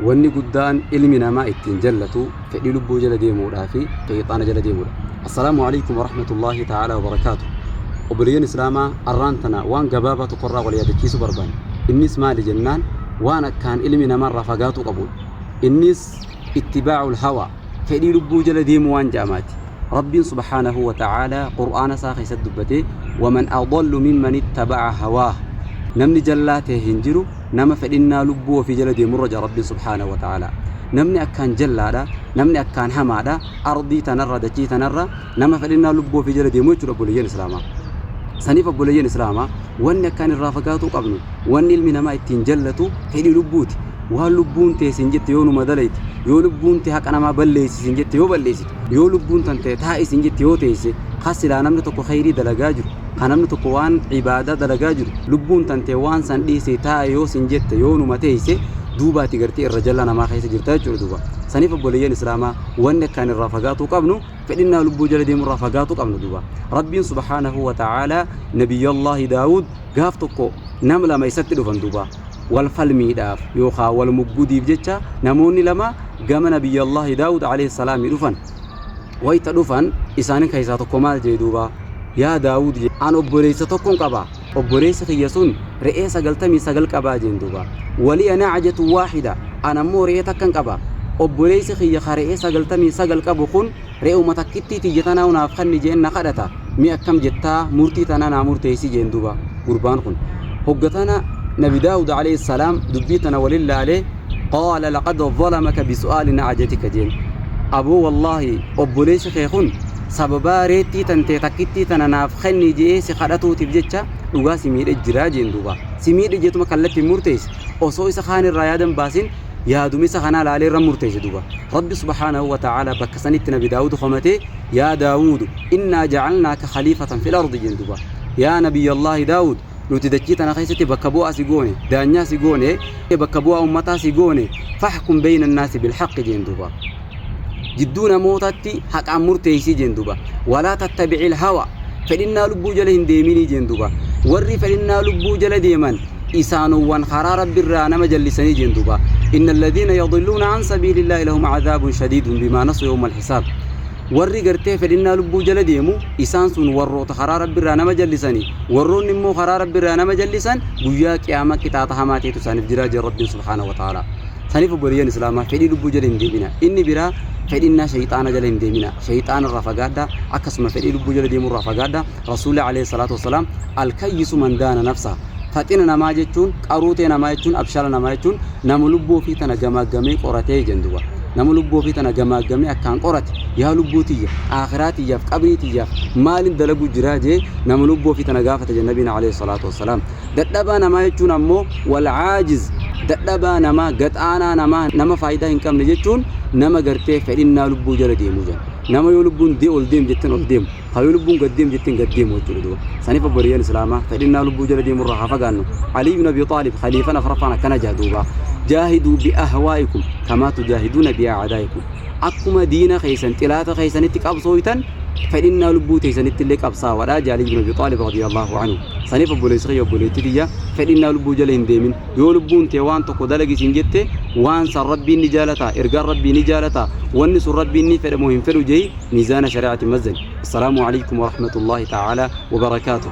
Wanni guddaan ilmi namaa ittiin jallatu fedhii lubbuu jala deemuudhaa fi sheyxaana jala deemuudha. Assalaamu aleykum warahmatullaahi ta'aalaa wabarakaatuh. Obboleeyyan Islaamaa arraan tana waan gabaabaa tokko irraa wal yaadachiisuu barbaanna. Innis maali jennaan waan akkaan ilmi namaa irraa fagaatuu qabuudha. Innis ittibaa'ul hawaa, fedhii lubbuu jala deemuu waan ja'amaati. Rabbiin subhaanahu wa ta'aalaa Qur'aana isaa keessatti dubbatee, waman adallu mimman ittaba'a hawaah. Namni jallaa ta'e hin jiru. Nama fedhinnaa lubbuu ofii jala deemurra jedha Rabbiin subhaanahu wa ta'aalaa. Namni akkaan jallaadha, namni akkaan hamaadha, ardii tanarra, dachii tanarra nama fedhinnaa lubbuu ofii jala deemu jechuudha obboleeyyan Islaamaa. Saniif obboleeyyan Islaamaa wanni akkaan irraa fagaatuu qabnu, wanni ilmi namaa ittiin jallatu fedhii lubbuuti. Waan lubbuun tee siin jette yoo numa dalayte, yoo lubbuun tee haqa namaa balleessi siin jette yoo balleessite, yoo lubbuun tantee taa'i siin jette yoo teesse, ka silaa namni tokko kheyrii dalagaa jiru, Ka namni tokko waan ibaadaa dalagaa jiru, lubbuun tantee waan san dhiisii taa'i yoo sin jette, yoo numa teeyse, duuba ati gartee irra jallaa namaa keessa jirta jechuudha duuba. Saniif obboleeyyan Islaamaa wanni akkaan irraa fagaatuu qabnu, fedhinnaa lubbuu jala deemuu irraa fagaatuu qabna duuba. Rabbiin subhaanahu wa ta'aalaa Nabiyyallaahi Daawuud gaaf tokko nama lama isatti dhufan duuba. Wal falmiidhaaf yookaan wal muggudiif jecha namoonni lama gama Nabiyyallaahi Daawuud alayhi salaami dhufan. wayta dhufan isaani keessaa tokko maal jee duuba yaa daawud jee an obboleessa tokkon qaba obboleessi kiyya sun re'ee sagaltamii sagal qabaa jeen duuba waliya nacjatu waaxida an ammoo re'ee takkan qaba obboleessi kiyya ka re'ee sagaltamii sagal qabu kun re'uma takkittii tiyya tanaa naaf kanni jeen na kadhata Mee akkam jettaa murtii tana naa murteeysii jeen duuba gurbaan kun. Hogga tana nabi Daawuud aleyh salaam dubbii tana walin laalee qaala laqad zalamaka bisu'aali na'ajatika jeen. Aboo wallaahi obboleeysi kee kun sababaa reettii tantee takkittii tana naaf kenni je'ee si kadhatuutiif jecha dhugaa si miidhe jira jeen duuba. Si miidhe jeetuma kallatti hin murteeysi osoo isa kaan irraa yaada hin baasin yaadumessa kanaa laalee irra murteesse duba rabbi subhaanahu wa ta'aalaa bakka sanitti nabi daawudu komatee yaa daawudu innaa jacalnaaka khaliifatan fil ardi jeen duba yaa nabiyyallaahi daawud nuti dachii tana keessatti bakka bu'aa si goone daanyaa si goone bakka bu'aa ummataa si goone fahkum beeyna annaasi bilhaqqi jeen duba jidduu namootatti haqaan murteeysii jeen duba walaa tattabi'il hawa fedhinnaa lubbuu jala hin deeminii jeen duba warri fedhinnaa lubbuu jala deeman isaanowwan karaa rabbirraa nama jallisanii jeen duba inna alladhiina yadilluuna an sabiilillaahi lahum cazaabun shadiidun bimaa nasu yawmal hisaab warri gartee fedhinnaa lubbuu jala deemu isaan sun warroota karaa rabbirraa nama jallisani warroonni immoo karaa rabbirraa nama jallisan guyyaa qiyaama qixaaxa hamaa ta'etu isaaniif jiraa jeen rabbiin subhaanahu wa ta'aalaa Saniif obboleeyyan Islaamaa fedhii lubbuu jala hin deeminaa. Inni biraa fedhinnaa shayxaana jala hin deeminaa. Shayxaana irraa fagaadhaa, akkasuma fedhii lubbuu jala deemuu irraa fagaadhaa. Rasuulli alayhi salaatu wassalaam al-kayyisu man daana nafsaha. Faxina namaa jechuun, qaruutee namaa jechuun, abshaala namaa jechuun nama lubbuu ofii tana gamaaggamee qoratee jedhan duuba. Nama lubbuu ofii tana gamaaggamee akkaan qorate, yaa lubbuu tiyya, aakhiraa tiyyaaf, qabrii tiyyaaf maalin dalaguu jiraa jee nama lubbuu ofii tana gaafata jedhan Nabiin alayhi salaatu wassalaam. Dadhabaa namaa jechuun ammoo wal aajiz dadhabaa namaa gaxaanaa namaa nama faayidaa hin qabne jechuun nama gartee fedhinnaa lubbuu jala deemuu jenna. Nama yoo lubbuun dee ol deem jetten ol deemu ha yoo lubbuun gad deem jetten gad deemu jechuudha duuba. Saniif obboleeyyan islaamaa fedhinnaa lubbuu jala deemurraa haa fagaannu. Alii ibn Abi Xaalib khaliifan afraffaan akkana jaha duuba. Jaahiduu bi ahwaa'ikum kamaa tujaahiduuna bi a'adaa'ikum. Akkuma diina keessan xilaata keessanitti qabsooytan fedhinnaa lubbuu teessanittillee qabsaawadha jaha Alii ibn Abi Xaalib radiyallahu anhu. Saniif obboleessa kiyya obboleettii tiyya fedhinnaa lubbuu jala hin deemin. Yoo lubbuun tee waan tokko dalagi siin jette waan san Rabbiin ni jaalataa? Ergaan Rabbii ni jaalataa? Wanni sun Rabbiin ni fedha moo hin fedhu je'ii miizaana shari'aatin mazzani. Assalaamu aleykum warahmatullaahi ta'aalaa wabarakaatuh.